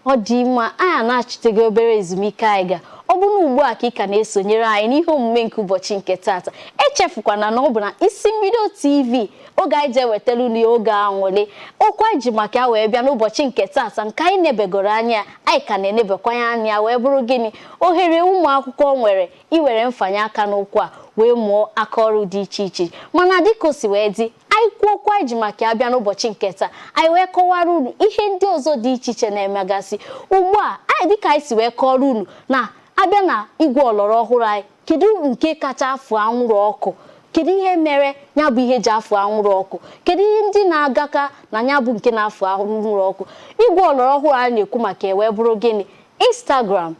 Ọ dị mma, anyị anachitego obere ezumike anyị ga. Ọ bụ na ugbu a ka ị ka na-esonyere anyị n'ihe omume nke ụbọchị nke tata. Echefukwana na ọ bụ na Isi Mbido TV oge anyị ji ewetara unu oge anwụlị. Okwu anyị ji maka ya wee bịa n'ụbọchị nke tata nke anyị nebegoro anya, anyị ka na-enebekwa ya anya wee bụrụ gịnị? Ohere ụmụ akwụkwọ nwere iwere mfanye aka n'ụkwụ a wee mụọ aka ọrụ dị iche iche. Mana dịka o si wee dị, Anyị kwuo okwu anyị ji maka ya bịa n'ụbọchị nke taa anyị wee kọwara unu ihe ndị ọzọ dị iche iche na-emegasị ugbu a anyị dịka anyị si wee kọọrọ unu na a bịa na igwe ọlọrọ ọhụrụ anyị kedu nke kacha afụ anwụrụ ọkụ kedu ihe mere ya bụ ihe ji afụ anwụrụ ọkụ kedu ihe ndị na-agaka na ya bụ nke na-afụ anwụrụ ọkụ igwe ọlọrọ ọhụrụ anyị na-ekwu maka ya wee bụrụ gịnị Instagram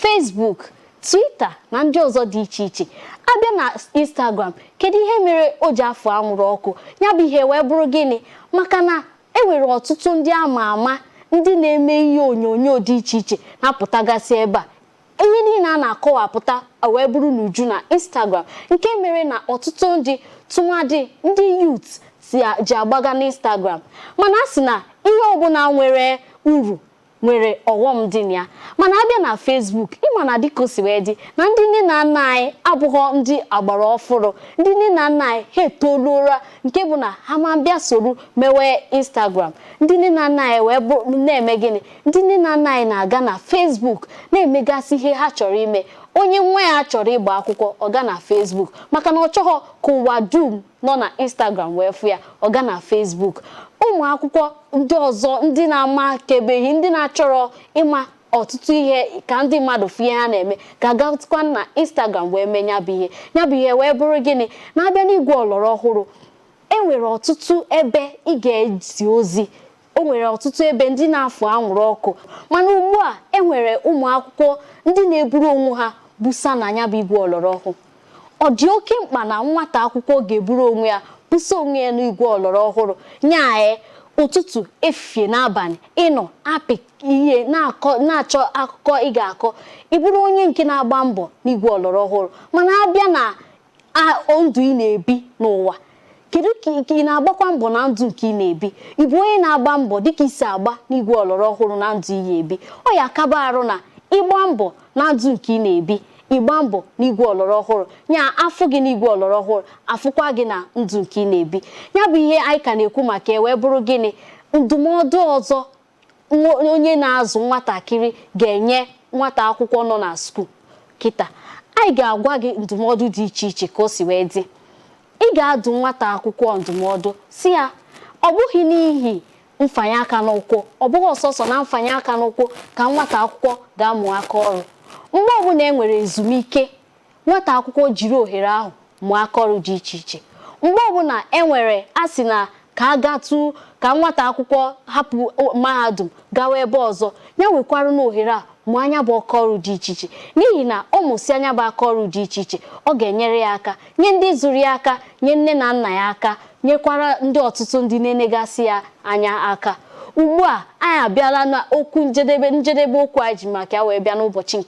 Facebook Twitter na ndị ọzọ dị iche iche a bịa na Instagram kedu ihe mere o ji afụ anwụrụ ọkụ ya bụ ihe wee bụrụ gịnị maka na e nwere ọtụtụ ndị ama ama ndị na-eme ihe onyonyo dị iche iche na-apụtagasị ebe a ihe niile a na-akọwapụta wee bụrụ n'uju na Instagram nke mere na ọtụtụ ndị tụmadị ndị youth ji agbaga n'Instagram mana a sị na ihe ọbụla nwere uru nwere ọghọm dị na ya mana a bịa na Facebook ị ma na dịka o si wee dị na ndị nne na nna anyị abụghọ ndị agbara ọfụrụ ndị nne na nna anyị ha etoluola nke bụ na ha ama abịa soro mewe Instagram ndị nne na nna anyị wee bụrụ na-eme gịnị ndị nne na nna anyị na-aga na Facebook na-emegasị ihe ha chọrọ ime onye nwa ya chọrọ ịgba akwụkwọ ọ gaa na Facebook maka na ọ chọghọ ka ụwa dum nọ na Instagram wee fụ ya, ọ gaa na Facebook. Ụmụ akwụkwọ ndị ọzọ ndị na-amakebeghị, ndị na-achọrọ ịma ọtụtụ ihe ka ndị mmadụ fụ ihe ha na-eme ga-agatụkwa na Instagram wee mee ya bụ ihe. Ya bụ ihe wee bụrụ gịnị? Na a bịa n'igwe ọlọrọ ọhụrụ, e nwere ọtụtụ ebe ị ga-ezi ozi O nwere ọtụtụ ebe ndị na-afụ anwụrụ ọkụ mana ugbu a e nwere ụmụ akwụkwọ ndị na-eburu onwe ha busa na ya bụ igwe ọlọrọ ọhụụ. Ọ dị oke mkpa na nwata akwụkwọ ga-eburu onwe ya busa onwe ya n'igwe ọlọrọ ọhụrụ ya e ụtụtụ efifie na abalị ị nọ apị ihe na-achọ akụkọ ị ga-akọ ị bụrụ onye nke na-agba mbọ n'igwe ọlọrọ ọhụrụ mana a bịa na ndụ ị na-ebi n'ụwa kedu ka ị- ka ị na-agbakwa mbọ na ndụ nke ị na-ebi ị bụ onye na-agba mbọ dịka i si agba n'igwe ọlọrọ ọhụrụ na ndụ ị na-ebi ọ ya-aka baa uru na ịgba mbọ na ndụ nke ị na-ebi ịgba mbọ n'igwe ọlọrọ ọhụrụ ya a fụ gị n'igwe ọlọrọ ọhụrụ a fụkwa gị na ndụ nke ị na-ebi ya bụ ihe anyị ka na-ekwu maka ya wee bụrụ gịnị ndụmọdụ ọzọ onye na-azụ nwatakịrị ga-enye nwata akwụkwọ nọ na skuul kịta anyị ga-agwa gị ndụmọdụ dị iche iche ka o si wee dị ị ga-adụ nwata akwụkwọ ndụmọdụ sị ya ọ bụghị n'ihi mfanye aka n'ụkwụ ọ bụghị sọsọ na mfanye aka n'ụkwụ ka nwata akwụkwọ ga-amụ aka ọrụ mgbe ọbụla e nwere ezumike Nwata akwụkwọ jiri ohere ahụ mụọ akaọrụ dị iche iche. Mgbe ọbụla e nwere a sị na ka a gatụ ka nwata akwụkwọ hapụ mahadum gawa ebe ọzọ, ya wekwarụ n'ohere a mụọ ya bụ akaọrụ dị iche iche. N'ihi na ọ mụsịa ya bụ akaọrụ dị iche iche, ọ ga-enyere ya aka, nye ndị zụrụ ya aka, nye nne na nna ya aka, nyekwara ndị ọtụtụ ndị na-enegasị ya anya aka. Ugbu a, anyị abịala n'okwu njedebe, njedebe okwu anyị ji maka ya wee bịa n'ụbọchị nke.